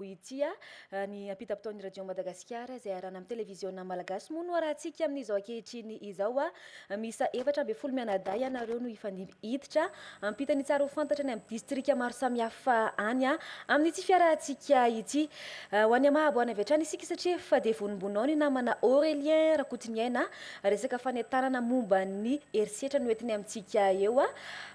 Hoy i Tia, ny ampitam-potoan'ny Radio Madagasikara izay iarahana amin'ny televiziona malagasy moa no arahantsika amin'izao ankehitriny izao. Miisa efatra ambin'ny folo mianadahy ianareo no hifandimby hiditra hampita ny tsara ho fantatra any amin'ny distrika maro samihafa any amin'ity fiarahantsika ity. Ho an'i Yamaha aboahana avy hatrany isika satria efa dia vonombonao ny namana Aurélien Rakotoniaina Resaka fanentanana momba ny herisetra no entiny amintsika eo.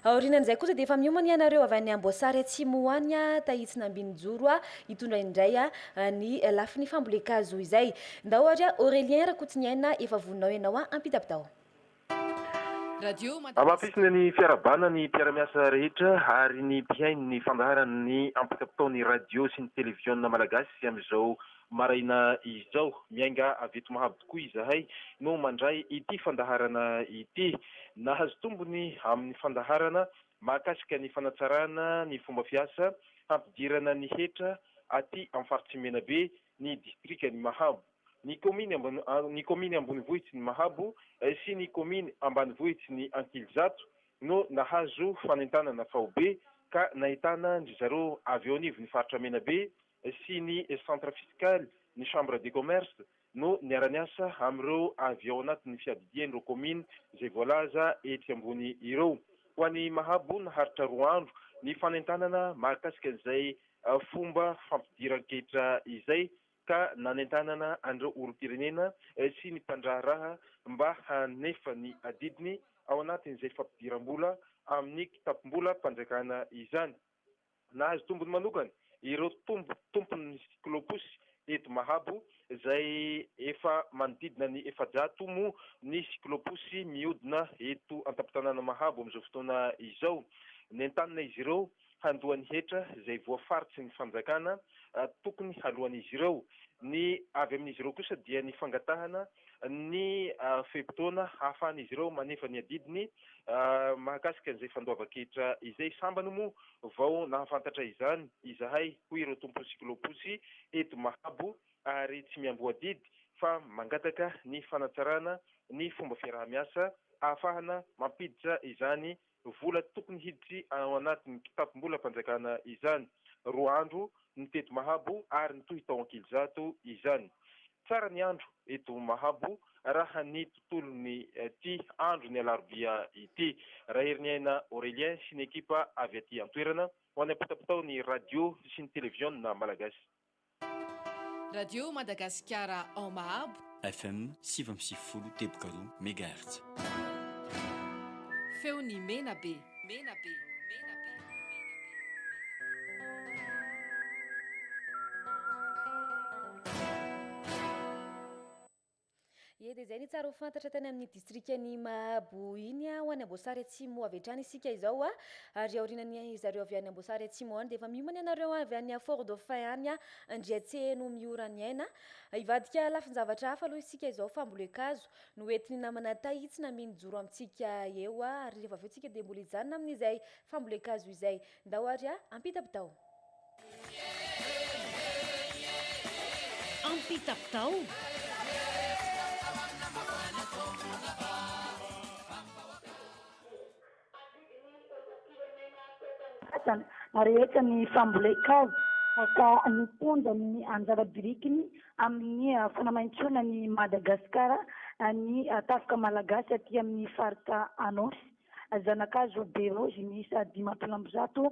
Aorianan'izay kosa dia efa miomana ianareo avy any Amboasary Atsimo ho any Tahitsy Nambinijoro hitondra indray ny lafiny fambolen-kazo izay. Ndao ary Aurélien Rakotsiniaina efa voninao ianao hampita bitao. Hamafisina ny fiarahabana ny mpiara-miasa rehetra ary ny mpihaino ny fandaharan'ny ampita bitao ny radio sy ny televiziona malagasy amin'izao Maraina izao, miainga avy eto Mahabo tokoa izahay no mandray ity fandaharana ity. Nahazo tombony amin'ny fandaharana mahakasika ny fanatsarana ny fomba fiasa hampidirana ny hetra aty amin'ny Faritsy Menabe ny Distrikan'i Mahabo, ny Kaominy Ambonivohitsin'i Mahabo sy ny Kaominy Ambanivohitsin'i Ankilizato no nahazo fanentanana faobe ka nahitana an-dry zareo avy eo anivon'ny Faritra Menabe sy ny Centre Fiscal, ny Chambre de Commerce no niara-niasa amin'ireo avy ao anatin'ny fiadidian'ireo kaomina izay voalaza etsy ambony ireo. Ho an'i Mahabo naharitra roa andro ny fanentanana mahakasika an'izay fomba fampidiran-ketra izay ka nanentanana an'ireo olom-pirenena sy ny mpandraharaha mba hanefa ny adidiny ao anatin'izay fampidiram-bola amin'ny kitapom-bolam-panjakana izany. Nahazo tombony manokana ireo tompo tompon'ny siklôposy eto Mahabo izay efa manodidina ny efajato moa ny siklôposy mihodina eto an-tampon-tanàna Mahabo amin'izao fotoana izao. Nentanina izy ireo handoa ny hetra izay voafaritry ny fanjakana tokony haloan'izy ireo. Ny avy amin'izy ireo kosa dia ny fangatahana ny fe-potoana hahafahan'izy ireo manefa ny adidiny mahakasika an'izay fandoavan-ketra izay. Sambany moa Vao nahafantatra izany izahay, hoy ireo tompon'ny siklôposy eto Mahabo, ary tsy miamboadidy fa mangataka ny fanatsarana ny fomba fiaraha-miasa ahafahana mampiditra izany vola tokony hiditry ao anatin'ny kitapom-bolam-panjakana izany. Roa andro ny teto Mahabo ary nitohy tao Ankilizato izany. Tsara ny andro eto Mahabo raha ny tontolon'ny ity andro ny alarobia ity. Raherin'iaina Aurélien sy ny ekipa avy aty an-toerana ho any am-potapotao ny radio sy ny televiona malagasy. Radio Madagasikara ao Mahabo. FM sivy amby sivifolo teboka roa megahertz. Feon'i Menabe. Mena be, mena be, mena be, mena be. Ye, dia izay ny tsara ho fantatra tany amin'ny distrikan'i Mahabo iny ho any Amboasary Atsimo avy hatrany isika izao. Ary aorianan'ny zareo avy any Amboasary Atsimo any dia efa miomana ianareo avy any Fort Dauphin any Andriatseheno Mioraniaina. Hivadika lafin-javatra hafa aloha isika izao, fambolen-kazo. Noentin'ny namana Tahitsy na Mino hijoro amintsika eo a! ary rehefa avy eo tsika dia mbola hijanona amin'izay fambolen-kazo izay. Ndao ary a! Ampitapitao! Ampitapitao! Adidy ny zandrim-pirenena teto amin'ny vatana ary hetsa ny fambolen-kazo ka nitondra ny anjara birikiny amin'ny fanamaintoana an'i Madagasikara ny tafika malagasy aty amin'ny faritra Anôsy. Zana-kazo be raozy miisa dimampolo amby zato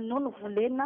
no novolena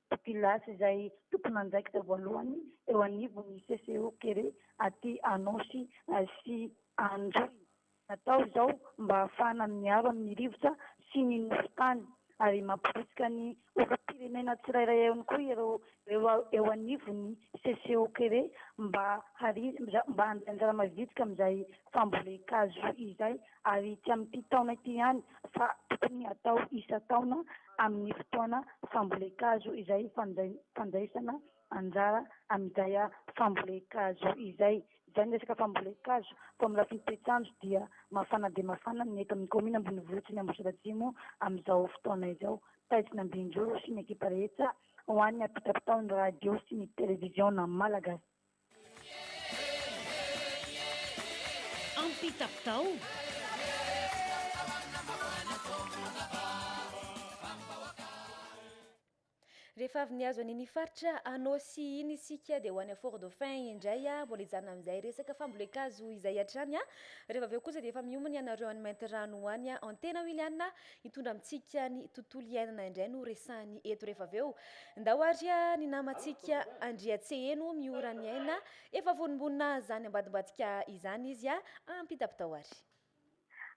Populace izay tompon'andraikitra voalohany eo anivon'ny CCO Kere aty Anôsy sy Androy. Natao izao mba hahafahana miaro amin'ny rivotra sy ny nofon-tany ary mampirisika ny olom-pirenena tsirairay ihany koa ireo eo anivon'ny CCO Kere mba handray anjara mavitrika amin'izay fambolen-kazo izay ary tsy amin'ity taona ity ihany fa tokony hatao isan-taona amin'ny fotoana fambolen-kazo izay fandraisana anjara amin'izay fambolen-kazo izay. Izay ny resaka fambolen-kazo fa amin'ny lafiny toetr'andro dia mafana dia mafana ny eto amin'ny kaominina ambonivohitry ny Ambositra Atsimo amin'izao fotoana izao. Taizina Ambinjoro sy ny ekipa rehetra ho an'ny hampitapitao ny radio sy ny televiziona malagasy. Rehefa avy nihazo an'iny faritra Anôsy iny isika dia ho any Fort Dauphin indray a, mbola hijanona amin'izay resaka fambolen-kazo izay hatrany a, rehefa avy eo kosa dia efa miomana ianareo any Maintirano any a, Antena Wiliana Hitondra amintsika ny tontolo iainana indray no resahiny eto rehefa avy eo. Ndao ary ny namantsika Andriatseheno Miora ny aina, efa vonimbonina izany ambadimbadika izany izy a! Ampitapitao ary.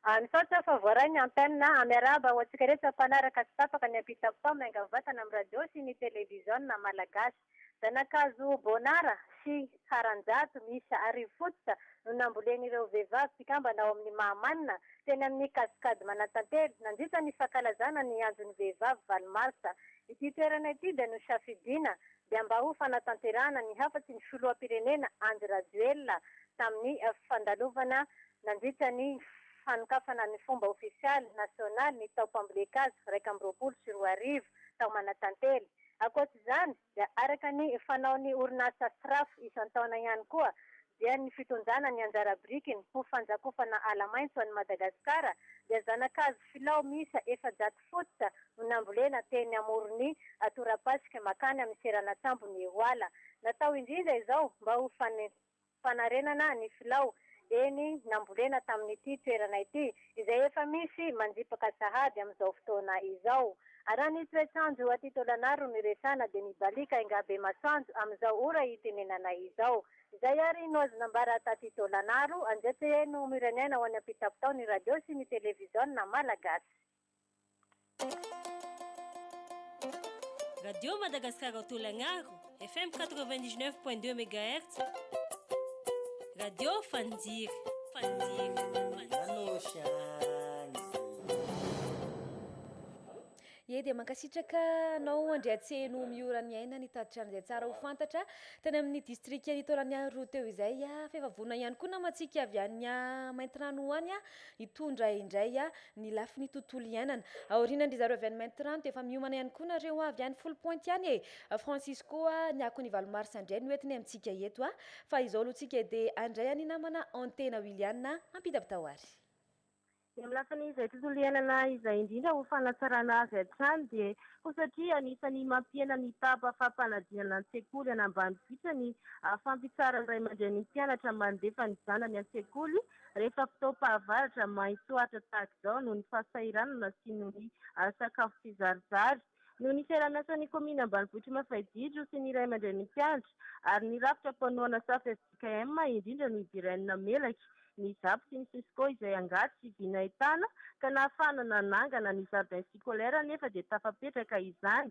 Ah misaotra fa voaray ny antenne ah. Miarahaba ho antsika rehetra mpanaraka tsy tapaka ny ampitapitao mianga vatana amin'ny radio sy ny televiziona malagasy. Zanakazo Bonara sy Haranjato miisa arivo fototra no nambolen'ireo vehivavy mpikambana ao amin'ny Mahamanina, teny amin'ny Cascade Manantantely, nandritra ny fankalazana ny Andron'ny Vehivavy valo marsa. Ity toerana ity dia nosafidiana dia mba ho fanatanterahana ny hafatry ny Filoham-pirenena Andry Rajoelina tamin'ny fandalovana nandritra ny fanokafana ny fomba ofisialy nasionaly ny taom-pambolen-kazo iraika amby roapolo sy roa arivo tao Manantantely. Ankoatra izany dia araka ny fanaon'ny orinasa Sraf isan-taona ihany koa dia ny fitondrana ny anjara birikiny ho fanjakofana ala maitso an'i Madagasikara dia zana-kazo filao miisa efajato fototra no nambolena teny amoron'ny torapasika makany amin'ny seranan-tsambon'i Ehoala. Natao indrindra izao mba ho fanarenana ny filao eny nambolena tamin'ity toerana ity, izay efa misy manjipaka sahady amin'izao fotoana izao. Araha ny toetr'andro aty Tôlanaro no iresahana dia mibaliaka enga be masoandro amin'izao ora itenenanay izao. Izay ary no azo nambara taty Tôlanaro, Andriatseheno Miraniaina ho any am-pitapitao ny radio sy ny televiziona malagasy. Radio Madagascar Autolagnaro, FM 99.2 MHz. Radio Fandir, Fandir, Ye dia mankasitraka anao Andriatseno Miora ny aina nitatitra an'izay tsara ho fantatra tany amin'ny distrikan'i Taolagnaro teo izay. F'efa vonona ihany koa namantsika avy any Maintirano ho any ah, Hitondra indray ny lafiny tontolo iainana. Aorinan-dry zareo avy any Maintirano dia efa miomana ihany koa nareo avy any Foly Pointe any e! Francis koa ny akon'ny valo mars indray no entiny amintsika eto a! Fa izao aloha tsika edy handray an'i namana Antena Williana ampitapitao ary. Ny amin'ny lafiny izay tontolo iainana izay indrindra ho fanatsarana azy hatrany dia ho satria anisan'ny mampihena ny taba fampanadinana an-tsekoly any ambanivohitra ny fampitsaharan'ny ray aman-drenin'ny mpianatra mandefa ny zanany an-tsekoly Rehefa fotoam-pahavaratra, main-tsoatra tahaka izao noho ny fahasahiranana sy noho ny sakafo tsizarizary. Noho ny fiaraha-miasan'ny kaominina ambanivohitr'i Mafaijijro sy ny ray aman-drenin'ny mpianatra ary ny rafitra mpanohana safa fjkm, indrindra ny Biren namelaka ny Zap sy ny Cisco izay angady sy vinaetana ka nahafahana nanangana ny jardin scolaire nefa dia tafapetraka izany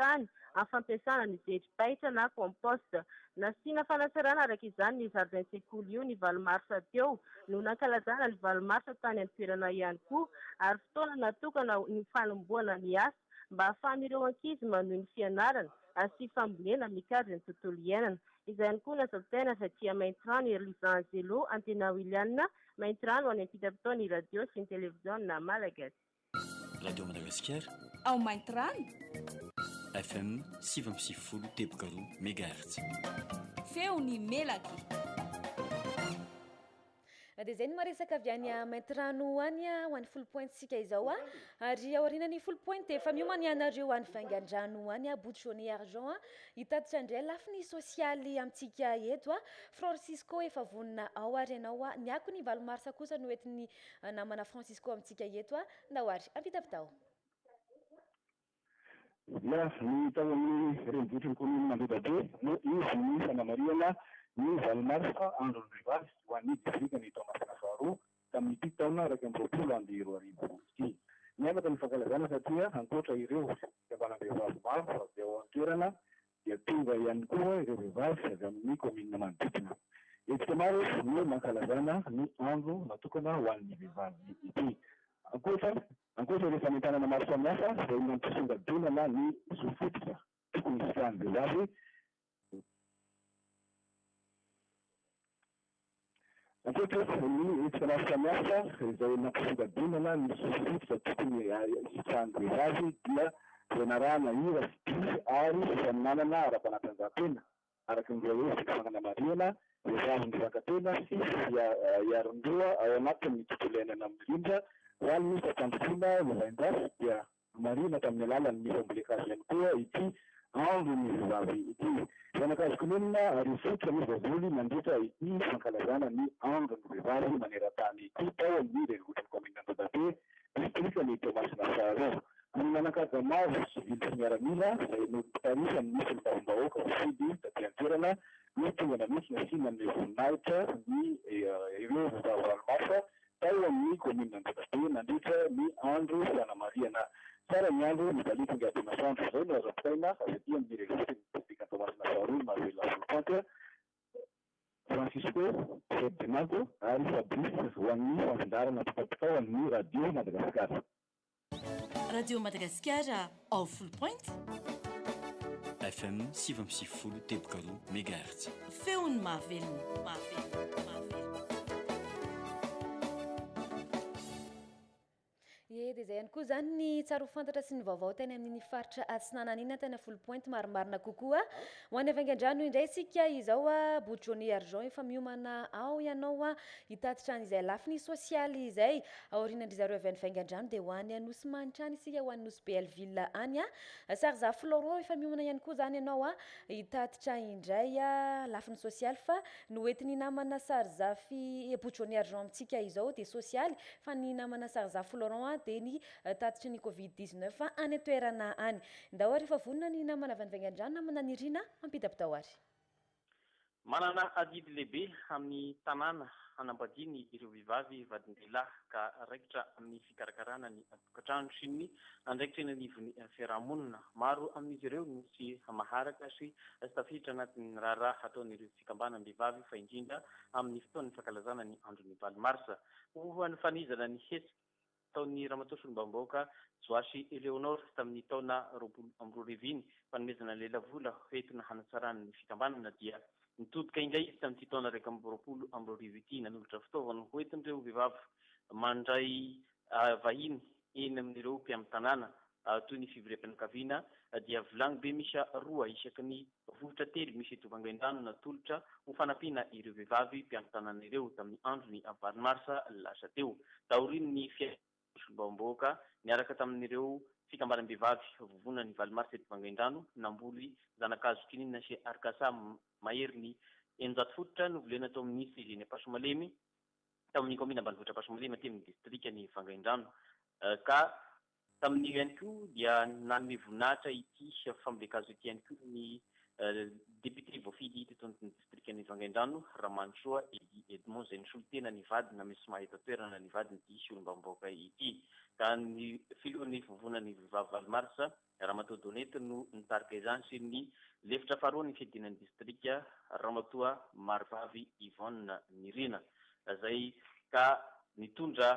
fokontany amin'ny fampiasana ny zery baitra na compost. Nasiana fanatsarana araka izany ny zaridain-tsekoly io ny valo marsa teo no nankalazana ny valo marsa tany an-toerana ihany koa ary fotoana natokana ho ny fanombohana ny asa mba hahafahan'ireo ankizy manohy ny fianarana sy fambolena mikajy ny tontolo iainana. Izany koa nazan-tsaina avy aty Maintirano i Lisa Angelo Antenawiliana, Maintirano any am-pitapitaon'ny radio sy ny televiziona malagasy. Radio Madagasikara. Ao Maintirano. FM sivy amby sivifolo teboka roa mégahertz. Feon'ny melaky. Dia izay ny maresaka avy any Maintirano any ho any full point tsika izao a. Ary aoriana ny full point dia efa miomana ianareo any Vangandrano any a Bout Jaune et Argent a. Hitatitra indray lafiny sosialy amintsika eto a. Francisco efa vonona ao ary ianao a. Ny akony valo marsa kosa no entin'ny Namana Francisco amintsika eto a ndao ary ampitampitao. Dia ny tao amin'ny renivohitry ny kaominina Andodabe no izy ny fanamarihana ny valo marsa andron'ny vehivavy ho an'ny distrikan'i Toamasina faharoa tamin'ity taona iraika amby roapolo amby roa arivo ity. Niavaka ny fankalazana satria ankoatra ireo fikambanam-behivavy maro avy ao an-toerana dia tonga ihany koa ireo vehivavy avy amin'ny kaominina manodidina. Hetsika maro no nankalazana ny andro natokana ho an'ny vehivavy ity. Ankoatra ankoatra ireo fanentanana maro samihafa izay nampisongadinana ny zo fototra tokony hisitrahan'ny vehivavy, Ankehitriny dia ny hetsika samihafa izay nampisongadinana ny sosotra tokony hisitrahan'ny vehivavy dia fianarahana hira sy dihy ary fifaninanana ara-panatanjahantena araka ny hoe fety fananamarihana, vehivavy mivangatena sy fiharin-doha ao anatin'ny tontolo iainana mirindra ho an'ny fampandrosoana ny lahin-dratsy dia. Nomarihina tamin'ny alalan'ny fambolen-kazo ihany koa ity andron'ny vehivavy ity. Zana-kazo kininina ary fototra misy baiboly mandritra ity fankalazana ny andron'ny vehivavy maneran-tany ity tao amin'ny renivohitr'ny kaominina Andodabe, distrikan'i Toamasina Faharoa. Amin'ny manan-kaja maro, sivily sy miaramila, izay nompitarihan'ny solombavambahoaka mpifidy taty an-toerana no tonga nanontsina sy nanome voninahitra ny ireo vehivavy ranomaso, tao amin'ny kaominina Andravobe nandritra ny andro fanamarihana tsara ny andro nibaliaka ny ady masoandro. Izay no azo ampitaina avy aty amin'ny renivohitr'i distrikan'i Toamasina faharoa, Manuela Volopanta, Francisco Ferdinando ary Fabrice ho an'ny fanfindarana mpitapitao amin'ny Radio Madagasikara. Radio Madagasikara ao Full Point. FM sivy amby sivifolo teboka roa megahertz. Feon'ny mahavelona, mahavelona, mahavelona. Ye dia izay ihany koa izany ny tsaro fantatra sy ny vaovao tany amin'ny faritra atsinananina tany Full Point marimarina kokoa. Ho any Avangandrano indray isika izao a Bout Johnny Argent efa miomana ao ianao a hitatitra an'izay lafiny sosialy izay. Aorianandry zareo avy any Vaingandrano dia ho any Anosimanitra any isika ho any Nosy Bealville any a. Sarizah Florent efa miomana ihany koa zany ianao a hitatitra indray a lafiny sosialy fa ny hoentin'ny namana Sarizah fi Bout Johnny Argent amintsika izao dia sosialy fa ny namana Sarizah Florent a dia ny tatitry ny covid 19 any an-toerana any. Ndao ary efa vonona ny namana avy any Vaingandrano namana Nirina ampidapidao ary. Manana adidy lehibe amin'ny tanàna hanambadiany ireo vehivavy vadin-dehilahy ka raikitra amin'ny fikarakarana ny tokantrano sy ny andraikitra eny anivon'ny fiarahamonina. Maro amin'izy ireo no tsy maharaka sy tsy tafiditra anatin'ny raharaha hataon'ireo fikambanam-behivavy fa indrindra amin'ny fotoan'ny fankalazana ny andron'ny valo marsa ho fanizana ny hetsika nataon'ny Ramatoa Solombavambahoaka Joashy Eleonor tamin'ny taona roapolo amby roa arivo iny fanomezana lelavola hoentina hanatsarana ny fikambanana dia nitodika indray izy tamin'ity taona iraika amby roapolo amby roa arivo ity nanolotra fitaovana hoentin'ireo vehivavy mandray vahiny eny amin'ireo mpiamitanàna Toy ny fivoriam-pianakaviana, dia vilagny be miisa roa isaky ny vovotra telo misy tovangain-drano natolotra ho fanampiana ireo vehivavy mpiankin-tanàna ireo tamin'ny andron'ny valo marsa lasa teo, taorian'ny fihaonan'ny solombavambahoaka niaraka tamin'ireo fikambanam-behivavy vovonana ny valo marsa tovangain-drano namboly zana-kazo kininina sy arikasa maherin'ny eninjato fototra novolena tao amin'ny CGN Ampasomalemy tao amin'ny kaominina ambanivohitra Ampasomalemy aty amin'ny distrikan'i Vangaindrano ka Tamin'io ihany koa dia nanome voninahitra ity fambolen-kazo ity ihany koa ny Député voafidy teto amin'ny Distrikan'i Vangaindrano, Ramanintsoa Eddy Edmond, izay nisolotena ny vadiny amin'ny sma eto an-toerana ny vadiny ity solombavambahoaka ity. Ka ny Filohan'ny Vovonan'ny Vehivavy valo marsa, Ramatoa Donette no nitarika izany sy ny lefitra faharoan'ny Fiadiana ny Distrika, Ramatoa Marivavy Yvonne Nirina, izay ka nitondra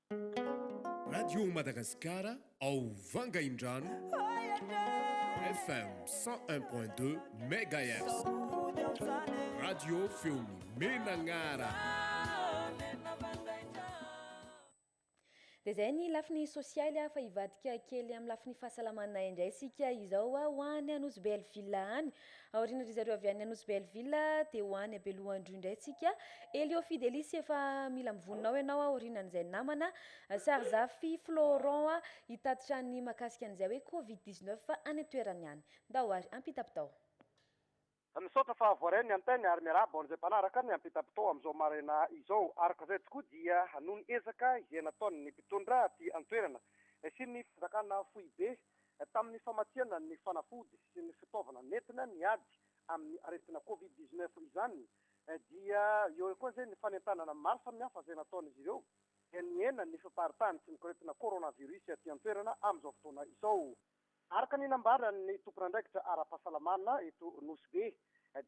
Radio Madagasikara ao Vangaindrano FM cent un point deux megahertz. Radio feon'ny menanara. Dia izay ny lafiny sosialy ah, fa hivadika kely amin'ny lafiny fahasalamana indray isika izao ah, ho any Anosibe Alville any. Aoriana ry zareo avy any Anosy Belleville dia ho any Belohandroy indray tsika. Elio Fidelis efa mila mivonona ao ianao aorianan'izay namana. Sarizafy Florent hitatitra ny makasika an'izay hoe covid 19 any an-toerany any. Ndao ary ampitapitao. Misaotra fa voaray ny antenny ary miarahaba ho an'izay mpanaraka ny ampitapitao amin'izao maraina izao. Araka izay tokoa dia noho ny ezaka izay nataon'ny mpitondra aty an-toerana sy ny fanjakana foibe Tamin'ny famatsiana ny fanafody sy ny fitaovana nentina niady amin'ny aretina Covid dix neuf izany dia eo ihany koa izay ny fanentanana maro samihafa izay nataon'izy ireo dia nihena ny fiparitahany sy ny koretina coronavirus aty an-toerana amin'izao fotoana izao. Araka ny nambaran'ny tompon'andraikitra ara-pahasalamana eto Nosy Be,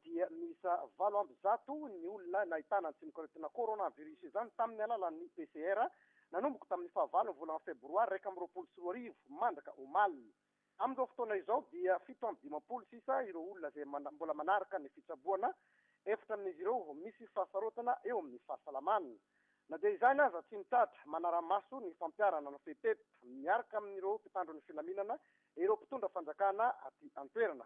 dia miisa valo amby zato ny olona nahitana ny tsimok'aretina coronavirus izany tamin'ny alalan'ny PCR, nanomboka tamin'ny fahavalon'ny volana febroary iraika amby roapolo sy roa arivo mandraka omaly. Amin'izao fotoana izao dia fito amby dimampolo sisa ireo olona izay mbola manaraka ny fitsaboana, efatra amin'izy ireo misy fahasarotana eo amin'ny fahasalamana. Na dia izany aza, tsy mitratra manara-maso ny fampiharana ny fepetra miaraka amin'ireo mpitandro ny filaminana ireo mpitondra fanjakana aty an-toerana.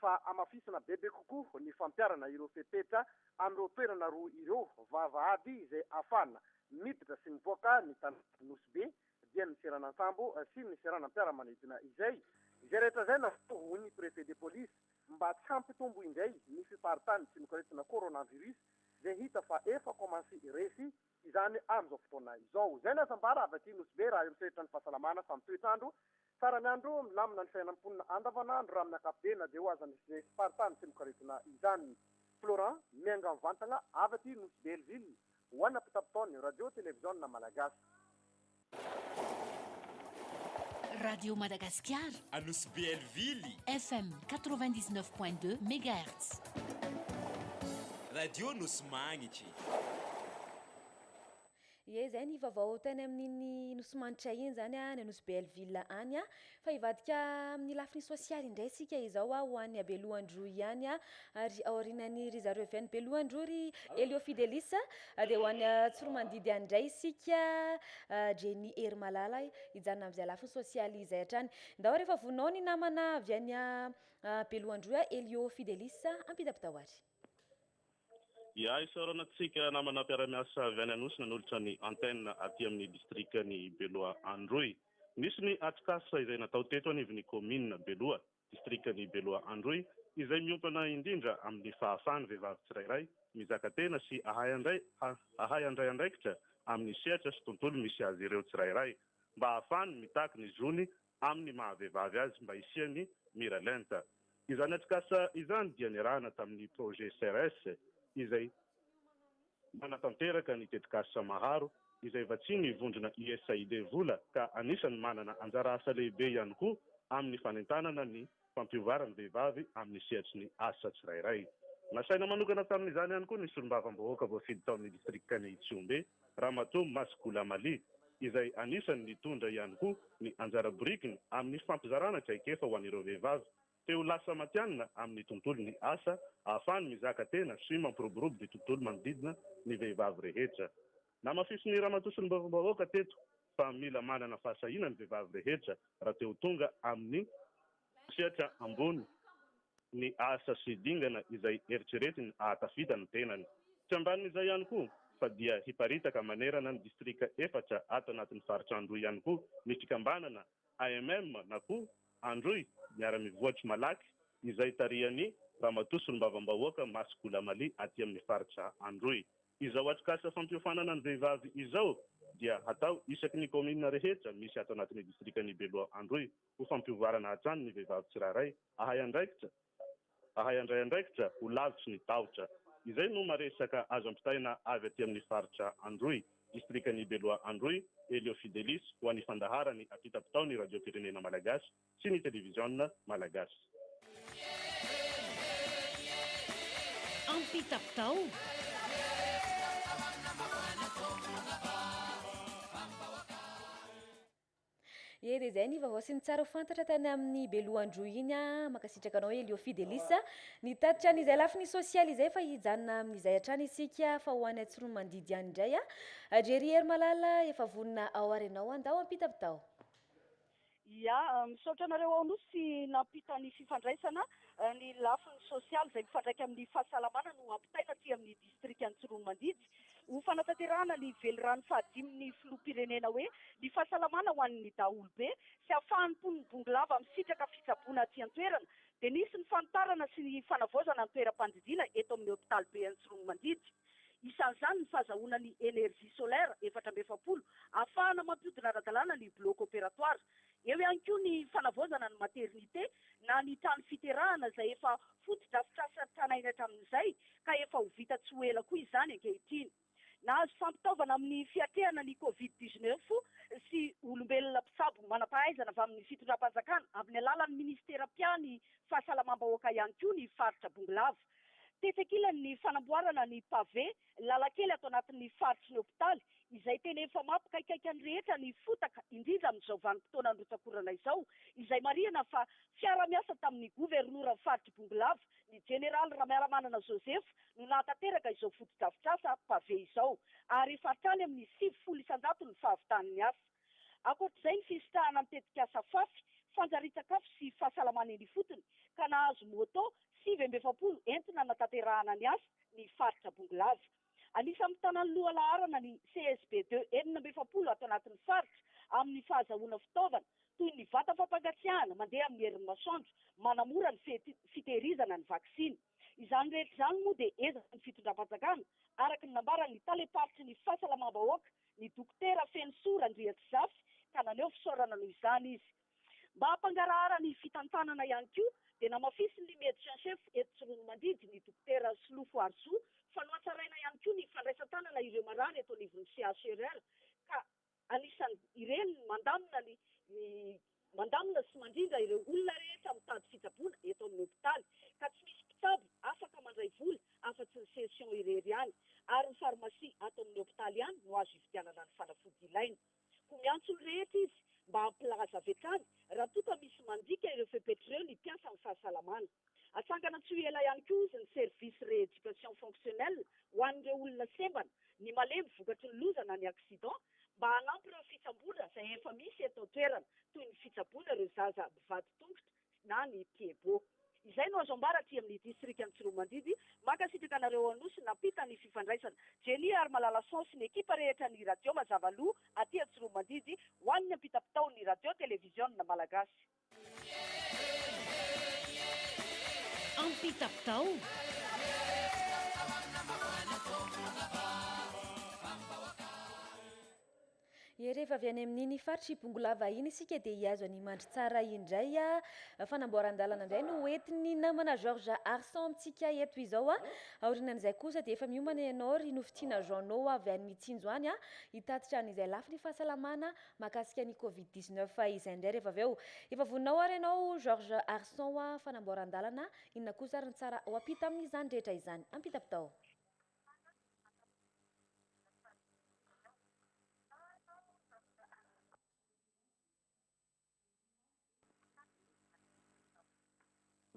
fa hamafisina bebe kokoa ny fampiharana ireo fepetra amin'ireo toerana roa ireo, vavahady izay ahafahana miditra sy mipoaka ny tanànan'i Nosy Be, dia ny seranan-tsambo sy ny seranam-piaramanidina izay. Izay rehetra izay natao, hoy ny Préfet de Police, mba tsy hampitombo indray ny fiparitan'ny tsinok'aretina coronavirus izay hita fa efa commence resy izany amin'izao fotoana izao. Izay no hasambara avy aty Nosy Be raha eo amin'ny sehatra ny fahasalamana fa ny toetr'andro tsara ny andro, milamina ny fiainan'ny mponina andavanandro raha amin'ny ankapobeny na dia eo aza ny faritany sy mikaretina izany. Florent miainga mivantagna avy aty Nosy Belleville ho ana pitapitao ny radio televiziona malagasy. Radio Madagascar. À Nosy Belleville. FM 99.2 MHz. Radio Nosy Magnitry. Ye zay ny vaovao tany amin'ny Nosy Magnitry iny zany a, ny Nosy Belleville any a. Fa hivadika amin'ny lafiny sosialy indray isika izao a, ho an'i Belohandroa ihany a, ary aorianan'i ry zareo avy any Belohandroa ry Elio Fidelis a, dia ho any Tsoromandidy any indray isika Jenny Herimalala hijanona amin'izay lafiny sosialy izay hatrany. Ndao rehefa voninao ny namana avy any Belohandroa Elio Fidelis a, ampitapitao ary. Ihahy isaorana antsika namana mpiara-miasa avy any Anosy nanolotra ny antenne aty amin'ny distrikan'i Beloha Androy. Misy ny atrikasa izay natao teto anivon'ny kaominina Beloha, distrikan'i Beloha Androy, izay miompana indrindra amin'ny fahafahan'ny vehivavy tsirairay mizaka tena sy hahay hahay handray andraikitra amin'ny sehatra sy tontolo misy azy ireo tsirairay mba hahafahany mitaky ny zony amin'ny maha vehivavy azy mba hisiany mira lenta. Izany atrikasa izany dia niarahana tamin'ny Projet CERES izay manatanteraka ny tetikasa Maharo izay vatsian'ny vondrona USAID vola ka anisan'ny manana anjara asa lehibe ihany koa amin'ny fanentanana ny fampiovaran'ny vehivavy amin'ny sehatry ny asa tsirairay. Nasaina manokana tamin'izany ihany koa ny solombavambahoaka voafidy tao amin'ny distrikan'i Tsiombe, Ramatoa Masikula Mali, izay anisan'ny nitondra ihany koa ny anjara birikiny amin'ny fampizarana traikefa ho an'ireo vehivavy te ho lasa matihanina amin'ny tontolon'ny asa, ahafahany mizaka tena sy mampiroborobo ny tontolo manodidina ny vehivavy rehetra. Namafisin'ny ramatoa sy ny vavambahoaka teto fa mila manana fahasahiana ny vehivavy rehetra raha te ho tonga amin'ny sehatra ambony ny asa sy dingana izay eritreretiny hahatafita ny tenany. Tsy ambanin'izay ihany koa fa dia hiparitaka manerana ny distrika efatra ato anatin'ny faritra Androy ihany koa ny fikambanana AMM, na koa Androy miara-mivoatry malaky izay tarihan'i Ramatoa Solombavambahoaka Masy Goulamali aty amin'ny faritra Androy. Izao atrikasa fampiofanana ny vehivavy izao dia hatao isaky ny kaominina rehetra misy ato anatin'ny distrikan'i Beloha Androy ho fampiovarana hatrany ny vehivavy tsirairay ahay andraikitra Ahay handray andraikitra ho lavitry ny tahotra. Izay no maresaka azo ampitaina avy aty amin'ny faritra Androy, distrikan'i Beloha Androy, Elio Fidelis, ho an'ny fandaharany ampitam-pitaon'ny Radiom-pirenena Malagasy sy ny Televiziona Malagasy. Ampitam-pitao? Ee dia izay ny vaovao sy ny tsara ho fantatra tany amin'ny belohan-droa iny a! Mankasitraka anao Elio Fidelis a! Nitatitra an'izay lafiny sosialy izay fa hijanona amin'izay hatrany isika fa ho any Atsoromandidy any indray a! Adria ry Hery Malala efa vonona ao ary ianao a! Ndao ampita avy tao! Ia, misaotra anareo ao Nosy nampita ny fifandraisana, ny lafiny sosialy izay mifandraika amin'ny fahasalamana no ampitaina aty amin'ny distrikan'i Tsiroanomandidy. Ho fanatanterahana ny velirano fahadimy ny Filoham-pirenena hoe, Ny fahasalamana ho an'ny daholobe sy ahafahan'ny mponin'i Bongolava misitraka fitsaboana aty an-toerana dia nisy ny fanitarana sy ny fanavaozana ny toeram-pandidiana eto amin'ny hopitalibe Antsiroanomandidy. Isan'izany ny fahazahoana ny energie solaire efatra amby efapolo ahafahana mampihodina ara-dalàna ny bloc opératoire. Eo ihany koa ny fanavaozana ny maternité na ny trano fiterahana izay efa fotodrafitrasa tranainy hatramin'izay ka efa ho vita tsy ho ela koa izany ankehitriny. Nahazo fampitaovana amin'ny fiatrehana ny covid dix neuf sy olombelona mpitsabo manam-pahaizana avy amin'ny fitondram-panjakana amin'ny alalan'ny minisitera mpia ny fahasalamam-bahoaka ihany koa ny faritra Bongolava. Tetsy ankilan'ny fanamboarana ny pavé Lalan-kely ato anatin'ny faritry ny hopitaly, izay tena efa mampikaikaika ny rehetra ny fotaka, indrindra amin'izao vanim-potoanan'ny rotsak'orana izao, izay marihana fa fiaraha-miasa tamin'ny governoran'ny faritr'i Bongolava, ny jeneraly Ramiaramanana Joseph, no nahatanteraka izao fotodrafitrasa pavé izao, ary efa hatrany amin'ny sivifolo isan-jato ny fahavitan'ny asa. Ankoatra izay, ny fisitrahana ny tetikasa Fafy, fanjarian-tsakafo sy fahasalamana eny ifotony, ka nahazo moto sivy amby efapolo entina hanatanterahana ny asa ny faritra Bongolava. Anisan'ny mitana ny lohalaharana ny CSB de enina amby efapolo ato anatin'ny faritra amin'ny fahazahoana fitaovana toy ny vata fampangatsiahana mandeha amin'ny herin'ny masoandro manamora ny fitehirizana ny vaksiny. Izany rehetra izany moa dia ezaky ny fitondram-panjakana, araka ny nambaran'ny talem-paritry ny fahasalamam-bahoaka ny Dokotera Fenosoa Randriantsizafy ka naneho fisaorana noho izany izy. Mba hampangarahara ny fitantanana ihany koa dia namafisin'ny Médecin en Chef eto Tsiroanomandidy ny Dokotera Solofo Harisoa fa nohatsaraina ihany koa ny fandraisan-tanana ireo marary eto anivon'ny CHRR ka anisan'ireny mandamina ny Mandamina sy mandrindra ireo olona rehetra mitady fitsaboana eto amin'ny hopitaly ka tsy misy mpitsabo afaka mandray vola afa-tsy ny CSION irery ihany ary ny farmasia ato amin'ny hopitaly ihany no azo ividianana ny fanafody ilaina. Koa miantso ny rehetra izy mba hampilaza avy hatrany raha toa ka misy mandika ireo fepetra ireo ny mpiasan'ny fahasalamana. Hatsangana tsy ho ela ihany koa hozy ny service rééducation fonctionnelle ho an'ireo olona sembana, ny malemy vokatry ny loza na ny accident, mba hanampy ireo fitsaboana izay efa misy eto an-toerana toy ny fitsaboana ireo zaza mivadi-tongotra na ny Piebo. Izay no azo ambara aty amin'ny distrikan'i Tsiroamandidy. Mankasitraka anareo ao Anosy nampita ny fifandraisana. Jenny ary Malalason sy ny ekipa rehetra ny Radio Mazava Loha aty Antsiroamandidy ho an'ny ampitam-pitao ny Radio Televiziona Malagasy. Ye rehefa avy any amin'iny faritr'i Bongolava iny isika dia hihazo an'i Mandritsara indray fanamboaran-dalana indray no hoentin'ny namana Georges Arson amintsika eto izao aorianan'izay kosa dia efa miomana ianao ry Nofitiana Jeannot avy any Mitsinjo any hitatitra an'izay lafiny fahasalamana Mahakasika ny covid dix neuf izay indray rehefa avy eo efa voninao ary ianao George Arson hoa fanamboaran-dalana inona kosa ary ny tsara ho ampita amin'izany rehetra izany? Ampitapitao.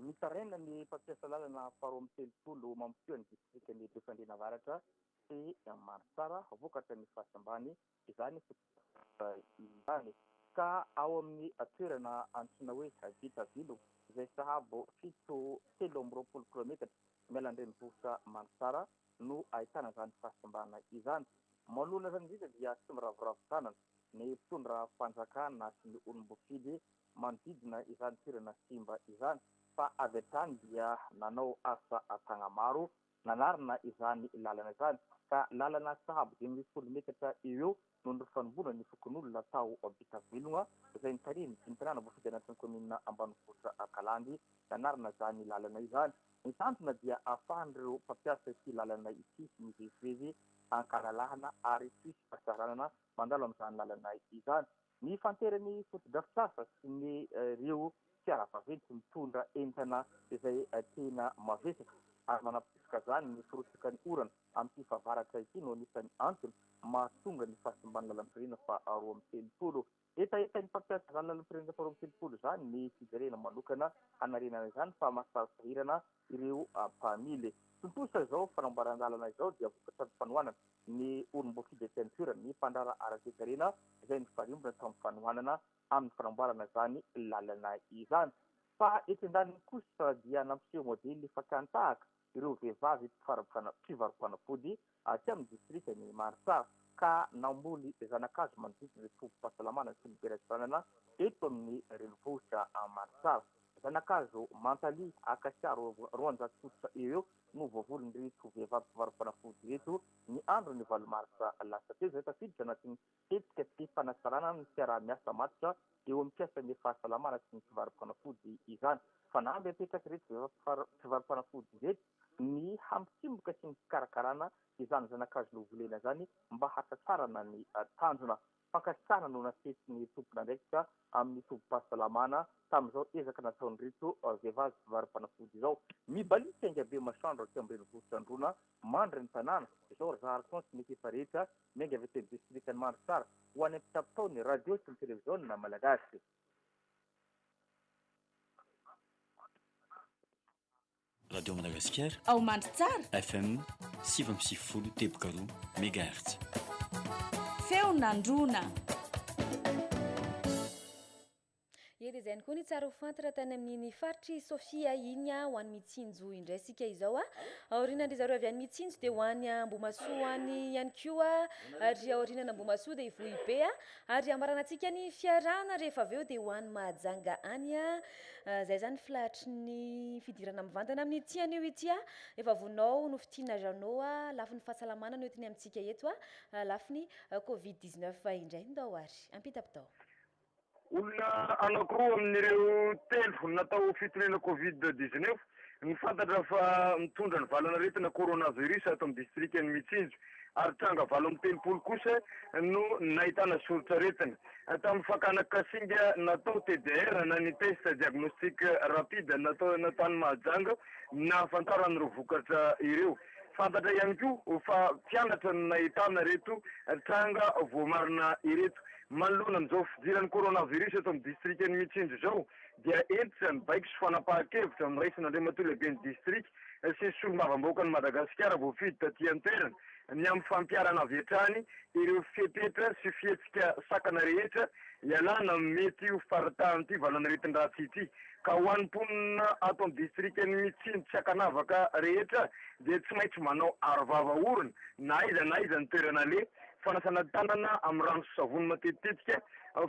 Mitaraina ny mpampiasa lalana faharoa amby telopolo mampiseho ny distrikan'i Befandriana Avaratra sy Manantsara vokatra ny fasy ambany izany fotodrafitrasa izany ka ao amin'ny toerana antsoina hoe Bitavilo izay sahabo fito telo amby roapolo kilometatra miala an-drenivohitra Manantsara no ahitana izany fasimbana izany. Manoloana izany indrindra dia tsy miraviravy tanana ny mpitondra fanjakana sy ny olom-boafidy manodidina izany toerana simba izany fa avy hatrany dia nanao asa an-tsaha maro nanarina izany lalana izany ka lalana sahabo dimy ambin'ny folo metatra eo eo no nifanombona ny fokonolona tao Bitavilogna izay nitarihin'ny dinitanàna voafidy anatin'ny kaominina ambanivohitra Kalandy nanarina izany lalana izany. Ny tanjona dia ahafahan'ireo mpampiasa ity lalana ity mivezivezy an-kalalahana ary tsy hisy fahasahiranana mandalo amin'izany lalana izany. Mifantery ny fotodrafitrasa sy ny ireo fiara vaventy mitondra entana izay tena mavesatra ary manampofoka izany ny firotsakan'ny orana amin'ity fahavaratra ity no anisan'ny antony mahatonga ny fahasimban'ny lalam-pirenena faharoa amby telopolo. Hetahetan'ny mpampiasa izany lalam-pirenena faharoa amby telopolo izany ny fijerena manokana hanarenana izany fa mahasahy sahirana ireo mpamily. Tontosa izao fanamboaran-dalana izao dia vokatry ny fanohanana ny Orum Boki de Pintura, ny mpandraharaha ara-toekarena izay nifarimbona tamin'ny fanohanana amin'ny fanamboarana izany lalana izany. Fa etsy andaniny kosa dia nampiseho modely fakàn-tahaka ireo vehivavy mpivaro-panafody aty amin'ny distrikan'i Marsa ka namboly zana-kazo manodidina ny tobim-pahasalamana sy ny biraim-pitanana eto amin'ny renivohitra Marsa. Zana-kazo Mantaly, Acacia roanjato fototra eo eo no voavolon'ireto vehivavy mpivaro-panafody ireto ny andron'ny valo marsa lasa teo izay tafiditra anatin'ny Tetika tsy misy fanatsarana ny fiaraha-miasa matotra eo amin'ny mpiasan'ny fahasalamana sy ny mpivaro-panafody izany. Fanamby apetraka ireto mpivaro-panafody ireto ny hampitsimoka sy ny fikarakarana izany zana-kazo novolena izany mba hahatratrarana ny tanjona. Fankasitrahana no naseson'ny tompon'andraikitra amin'ny tobim-pahasalamana tamin'izao ezaka nataon'ireto vehivavy mpivaro-panafody izao. Mibaliaka aingabe masoandro aty ambanivohitr'Androana mandry ny tanàna izao ry Zahary Coins nefa efa rehetra Miainga avy eto amin'ny distrikan'i Mandritsara ho any amin'ny mpitsabo tao ny radio sy ny televiziona malagasy. Radio Madagasikara ao Mandritsara, FM sivy amby sivifolo teboka roa megahertz. Feon'Androna. Ie dia izay ihany koa ny tsara ho fantatra tany amin'iny faritr'i Sofia iny ho an'i Mitsinjo indray isika izao. Aoriana an-dry zareo avy any Mitsinjo dia ho any Ambohimasoa any ihany koa ry aoriana an'Ambohimasoa dia i Vohibe ary hamaranantsika ny fiarahana rehefa avy eo dia ho any Mahajanga any. Izay izany ny filahatry ny fidirana mivantana amin'ity anio ity. Efa vonao nofintinina Jeannot lafiny fahasalamana no entiny amintsika eto, lafiny covid 19 indray ndao ary. Ampita-pitao. Olona anankiroa amin'ireo telo natao fitoriana Covid dix-neuf no fantatra fa mitondra ny valan'aretina coronavirus ato amin'ny distrikan'i Mitsinjo ary tranga valo amby telopolo kosa no nahitana soritr'aretina tamin'ny fakana kasinga natao TDR na ny test diagnostic rapide natao tany Mahajanga nahafantarana ireo vokatra ireo. Fantatra ihany koa fa tsy halatra no nahitana ireto tranga voamarina ireto. Manoloana an'izao fidiran'ny coronavirus eto amin'ny distrikan'i Mitsinjo izao dia hentitra ny baiko sy fanapahan-kevitra noraisina Andriamatoa Lehiben'ny distrika sy Solombavambahoakan'i Madagasikara voafidy taty an-toerana ny amin'ny fampiharana avy hatrany ireo fepetra sy fihetsika sakana rehetra hialana amin'ny mety ho faritàn'ity valanaretin-dratsy ity. Ka ho an'ny mponina ato amin'ny distrikan'i Mitsiny tsy ankanavaka rehetra dia tsy maintsy manao arovava orona na aiza na aiza ny toerana aleha, fanasana tanana amin'ny rano sy savony matetitetika,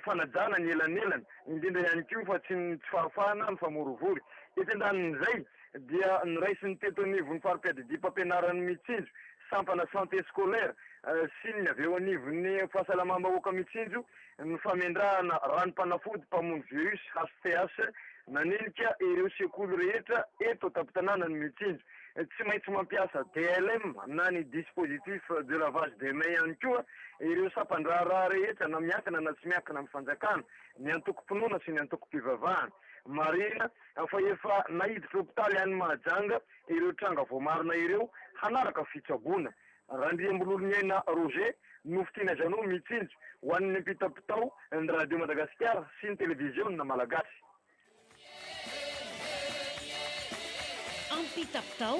fanajana ny elanelana, indrindra ihany koa fa tsy ny tsy fahafahana mifamorivory. Etsy an-danin'izay dia noraisiny teto anivon'ny fari-piadidiam-pampianaran'i Mitsinjo, sampana Santé scolaire, sy ny avy eo anivon'ny fahasalamam-bahoaka Mitsinjo ny famendrahana ranom-panafody mpamono virus, HPS, nanenika ireo sekoly rehetra eto an-tampon-tanànan'i Mitsinjo. Tsy maintsy mampiasa DLM na ny dispositif de lavage de mains ihany koa ireo sampan-draharaha rehetra na miankina na tsy miankina amin'ny fanjakana, ny antokom-pinoana sy ny antokom-pivavahana. Marihina fa efa naiditra hopitaly any Mahajanga ireo tranga voamarina ireo hanaraka fitsaboana. Randriambololoniaina Roger, Nofy Tiana Jeannot mitsinjo ho an'ny ampitapitao ny Radio Madagasikara sy ny Televiziona Malagasy. Ampitapitao.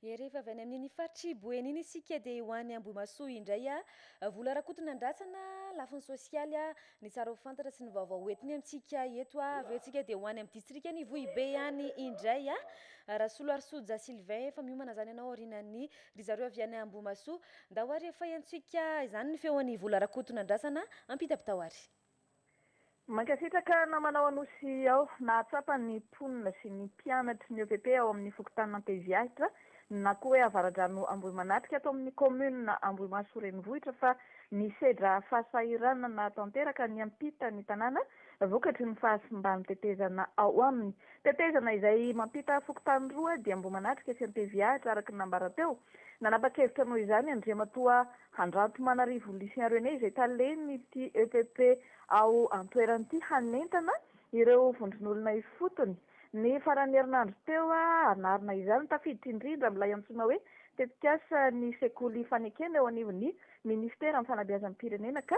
E rehefa avy any amin'iny faritr'i Boeny iny isika dia ho any Ambohimahasoa indray a! Vola Rakotonandrasana, lafiny sosialy a! Ny tsara ho fantatra sy ny vaovao ho entiny amintsika eto a! Avy eo isika dia ho any amin'ny distrikan'i Vohibe any indray a! Rasoloarisoja Sylvain, efa miomana izany ianao aorianan'ny ry zareo avy any Ambohimahasoa. Ndao ary efa henontsika izany ny feon'i Vola Rakotonandrasana, ampita-pitao ary. Mankasitraka namanao Anosy aho. Nahatsapa ny mponina sy ny mpianatry ny EPP ao amin'ny fokontanin' Anteziahitra na koa hoe Avaradrano Ambohimanatrika ato amin'ny kaominina Ambohimahasoa renivohitra fa nisedra fahasahiranana tanteraka niampita ny tanàna vokatry ny fahasimban'ny tetezana ao aminy. Tetezana izay mampita fokontany roa dia Ambohimanatrika sy Anteziahitra araka ny nambara teo. Nanapa-kevitra noho izany Andriamatoa Handranto Manarivo Lucien René izay talen'ity epp ao an-toerana ity hanentana ireo vondron'olona ifotony. Ny faran'ny herinandro teo hanarina izany, tafiditra indrindra amin'ilay antsoina hoe tetikasa ny sekoly Ifanekena eo anivon'ny minisiteran'ny fanabeazam-pirenena ka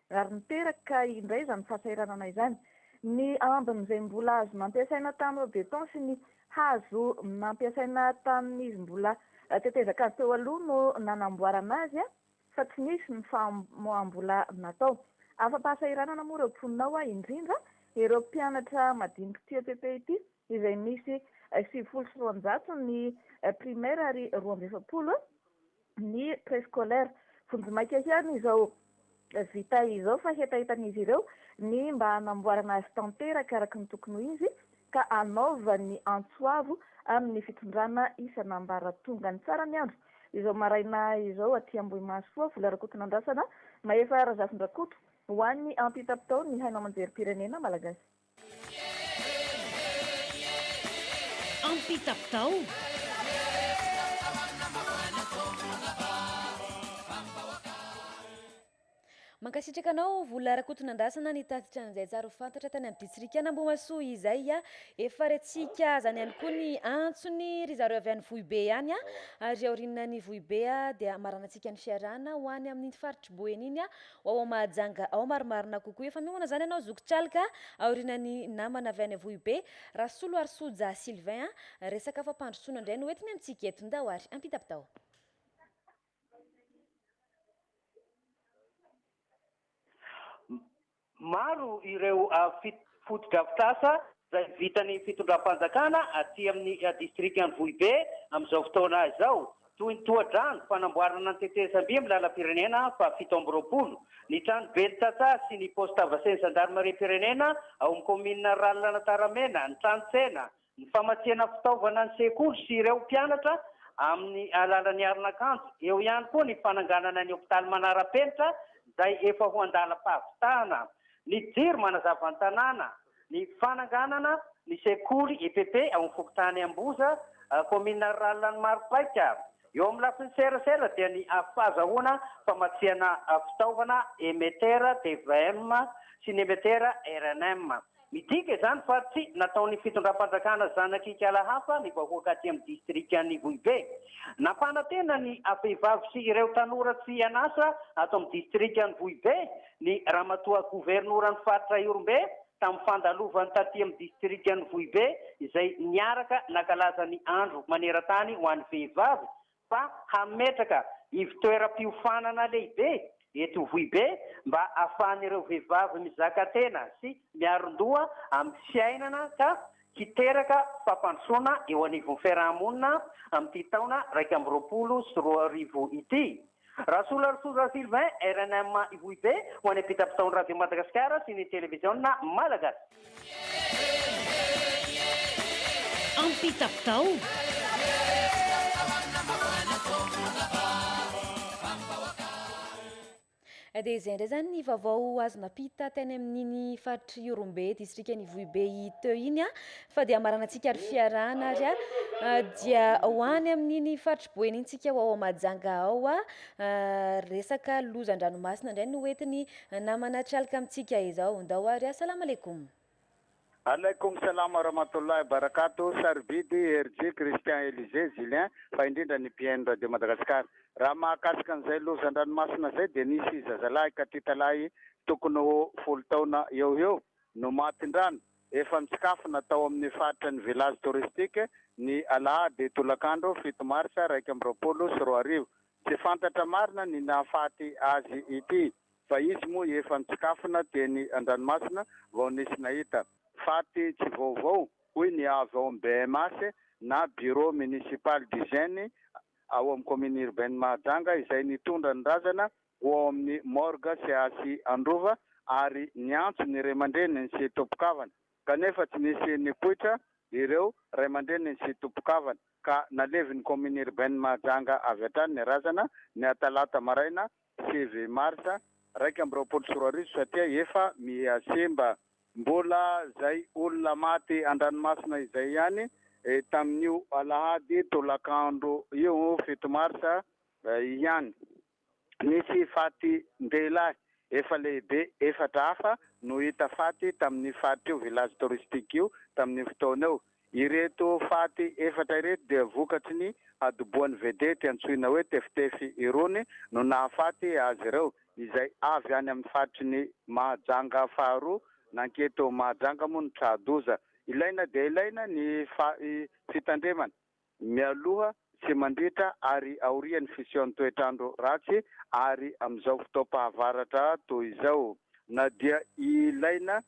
Ary niteraka indray izany fahasahiranana izany ny ambin'izay mbola hazo nampiasaina tamin'ireo béton sy ny hazo nampiasaina tamin'izy mbola tetezan-kazo teo aloha no nanamboarana azy fa tsy nisy ny famoaham-bola natao. Afa-pahasahiranana moa ireo mponina ao, indrindra ireo mpianatra madiniky ity EPP ity izay misy sivifolo sy roanjato ny primaire ary roa amby efapolo ny préscolaire. Vonjimaika ihany izao vita izao fa hetahetan'izy ireo ny mba hanamboarana azy tanteraka araka ny tokony ho izy ka hanaovan'ny antso avo amin'ny fitondrana isan'ambaratonga. Ny tsara ny andro izao maraina izao aty Ambohimahasoa, vola Rakotonandrasana, mahefa Razafindrakoto ho an'ny ampitapitaon'ny haino aman-jerim-pirenena malagasy. Mankasitraka anao Vola Rakotonandrasana nitatitra an'izay tsara ho fantatra tany amin'ny Ditsirikan'Ambohimahasoa izay. Efa rehatsika azany ihany koa ny antsony ry zareo avy any Vohibe ihany ary aorianan'ny Vohibe dia maranantsika ny fiarahana ho any amin'iny faritr'i Boeny iny Wawa Mahajanga ao marimarina kokoa efa miomana zany ianao zoky Calka aoriana ny namana avy any Avohibe Rasoloarisoja Sylvain a! resaka fampandrosoana indray no entiny amintsika eto ndao ary ampita bitao. Maro ireo fotodrafitrasa izay vitan'ny fitondram-panjakana aty amin'ny distrikan'i Vohibe amin'izao fotoana izao, toy ny tohadrano, fanamboarana ny tetezam-by amin'ny lalam-pirenena fahafito amby roapolo, ny trano ben'ny tantsaha sy ny paosy Tavasen'ny zandarimariam-pirenena ao amin'ny kaominina Rallan'Antaramena, ny trano tsena, ny famatsiana fitaovana ny sekoly sy ireo mpianatra amin'ny alalan'ny aron'akanjo, eo ihany koa ny fananganana ny hopitaly manara-penitra izay efa ho an-dalam-pahavitana, ny jiro manazava ny tanàna. Ny fananganana ny sekoly EPP ao amin'ny fokontany Amboza, kaominina rurale an'i Maropaika. Eo amin'ny lafiny serasera dia ny fahazahoana famatsiana fitaovana emetera tvm sy ny emetera rnm. Midika izany fa tsy nataon'ny fitondram-panjakana zanak'ikala hafa ny vahoaka aty amin'ny distrikan'Ivohibe. Nampanantena ny vehivavy sy ireo tanora tsy an'asa ato amin'ny distrikan'Ivohibe Ny Ramatoa Governoran'ny Faritra Ihorombe tamin'ny fandalovany taty amin'ny Distrikan'i Vohibe izay niaraka nankalaza ny Andro maneran-tany ho an'ny Vehivavy fa hametraka ivon-toeram-piofanana lehibe eto Vohibe mba ahafahan'ireo vehivavy mizaka tena sy miaron-doha amin'ny fiainana ka hiteraka fampandrosoana eo anivon'ny fiaraha-monina amin'ity taona iraika amby roapolo sy roa arivo ity. Rasolarisoza Sylvain, rnm Ivohibe, ho any am-pitapitaon'ny Radio Madagasikara sy ny Televiziona Malagasy. Dia izay indray izany ny vaovao azo nampita tany amin'iny faritr'Ihorombe, distrikan'Ivohibe teo iny. Fa dia hamaranantsika ary fiarahana ary a ah, dia ho any amin'iny faritry boeny iny tsika ho ao Majanga ao a ah, resaka lozan-dranomasina indray no entiny ah, namana trialika amintsika izao ndao ary a salama alekoum Alaikum salam wa rahmatullahi wa barakatuh, Sarobidy, RJ, Christian Elisée, Julien, fa indrindra ny mpihaino Radio Madagascar. Raha mahakasika an'izay lozan-dranomasina izay dia nisy zazalahy katitalahy tokony ho folo taona eo ho eo no matin-drano Efa misakafona tao amin'ny faritra ny Village Touristique ny alahady tolakandro fito marsa iraika amby roapolo sy roa arivo. Tsy fantatra marina ny nahafaty azy ity fa izy moa efa misakafona teny an-dranomasina vao nisy nahita. Faty tsy vaovao, hoy ny avy ao amin'ny BMH na Bureau Municipal d'Hygiène ao amin'ny Commune Urbaine Mahajanga izay nitondra ny razana ho ao amin'ny morgue CHI Androva ary niantso ny ray aman-dreniny sy tompon-kavana kanefa tsy nisy nipoitra ireo ray aman-dreniny sy tompon-kavana ka nalevin'ny Commune Urbaine Mahajanga avy hatrany ny razana ny atalata maraina sivy marsa iraika amby roapolo sy roa arivo satria efa miha simba mbola izay olona maty an-dranomasina izay ihany tamin'io alahady tolakandro io fito marsa ihany. Nisy fatin-dehilahy efa lehibe efatra hafa no hita faty tamin'io faritr'io, village touristique, io tamin'io fotoana io. Ireto faty efatra ireto dia vokatry ny hadoboan'ny vedety antsoina hoe Tefitefy irony no nahafaty azy ireo, izay avy any amin'ny faritry ny Mahajanga faharoa. Nankety ao Mahajanga moa ny tra-doza. Ilaina dia ilaina ny fitandremana. mialoha sy mandritra ary aorian'ny fisian'ny toetr'andro ratsy ary amin'izao fotoam-pahavaratra toy izao na dia ilaina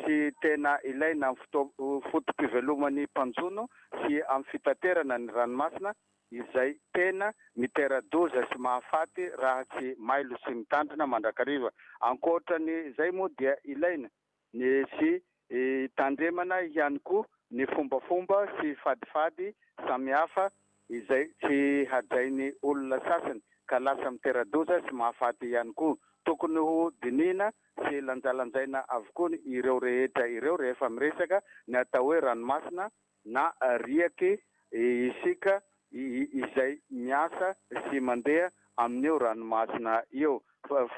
sy tena ilaina amin'ny foto-piveloman'ny mpanjono sy amin'ny fitaterana ny ranomasina izay tena mitera-doza sy mahafaty raha tsy mailo sy mitandrina mandrakariva. Ankoatra ny izay moa dia ilaina. Nisy hitandremana ihany koa ny fombafomba sy fadifady samihafa izay tsy hajain'ny olona sasany ka lasa mitera-doza sy mahafaty ihany koa. Tokony ho dinihina sy lanjalanjaina avokoa ireo rehetra ireo rehefa miresaka ny atao hoe ranomasina na riake isika izay miasa sy mandeha amin'io ranomasina io.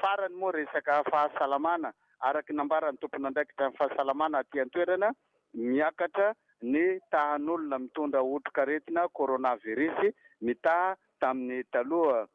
Farany moa resaka fahasalamana, araka ny nambaran'ny tompon'andraikitra ny fahasalamana aty an-toerana, miakatra ny tahan'olona mitondra otrikaretina coronavirus mitaha tamin'ny taloha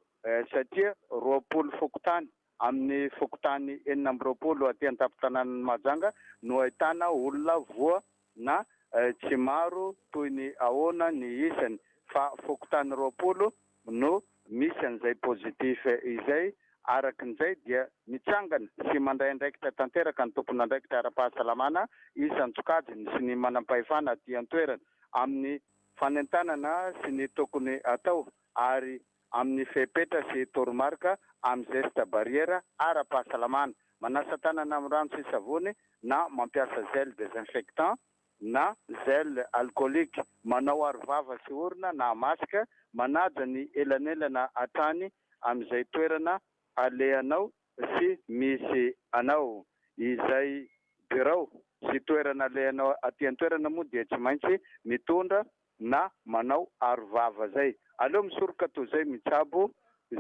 satria roapolo fokontany Amin'ny fokontany enina amby roapolo aty an-tampon-tanànan'i Mahajanga no ahitana olona voa na tsy maro toy ny ahoana ny isany fa fokontany roapolo no misy an'izay positif izay. Araka an'izay dia mitsangana sy mandray andraikitra tanteraka ny tompon'andraikitra ara-pahasalamana isan-tsokajiny sy ny manam-pahefana aty an-toerana amin'ny fanentanana sy ny tokony atao ary amin'ny fepetra sy toromarika amin'ny gestes barrières ara-pahasalamana, manasa tanana amin'ny rano sy savony na mampiasa gel désinfectant na gel alcoolique, manao arovava sy orona na masque, manaja ny elanelana hatrany amin'izay toerana alehanao sy misy anao. Izay birao sy toerana alehanao aty an-toerana moa dia tsy maintsy mitondra na manao aro vava zay. Aleo misoroka toy zay mitsabo.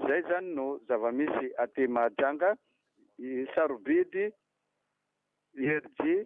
Zay zany no zava-misy aty Mahajanga. Sarobidy Herji.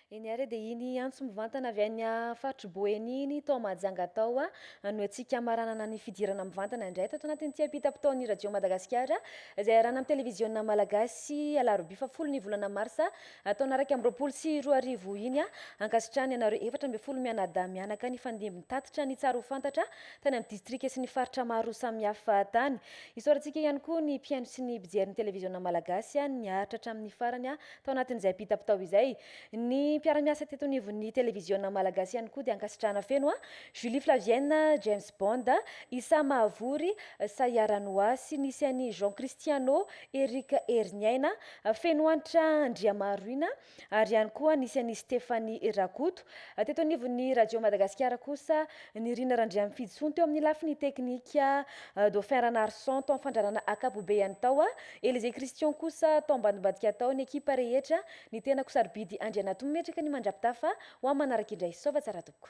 Eny ary dia iny antso mivantana avy any faritr'i Boeny iny tao Mahajanga tao no antsika hamaranana ny fidirana mivantana indray tato anatin'ity ampitam-potoan'ny Radio Madagasikara izay arahana amin'ny televiziona malagasy alarobia fahafolo ny volana marsa taona iraika amby roapolo sy roa arivo iny ankasitrahany anareo efatra ambin'ny folo mianadahy mianaka nifandimby nitatitra ny tsara ho fantatra tany amin'ny distrika sy ny faritra maro samihafa tany isaorantsika ihany koa ny mpihaino sy ny mpijery ny televiziona malagasy niaritra hatramin'ny farany Tao anatin'izay bita-pitao izay, ny mpiara-miasa teto anivon'ny televiziona malagasy ihany koa dia ankasitrahana feno an! Julie Flavienne, James Bond, Issa Mahavory, Sayara Noah sy nisy an'i Jean Christiano, Eric Heriniaina, Fenohanitra Andriamaharoina ary ihany koa nisy an'i Stephanie Rakoto. Teto anivon'ny Radio Madagasikara kosa, nirina Randriamifidy Soa teo amin'ny lafiny teknika, Dauphin Ranarison tao amin'ny fandrarana ankapobeany tao, Elysée Christian kosa tao ambadimbadika tao ny ekipa rehetra, ny tenako sarobidy Andrianato mimetraka ny mandrapitafa ho amin'ny manaraka indray Saova tsara tompoko.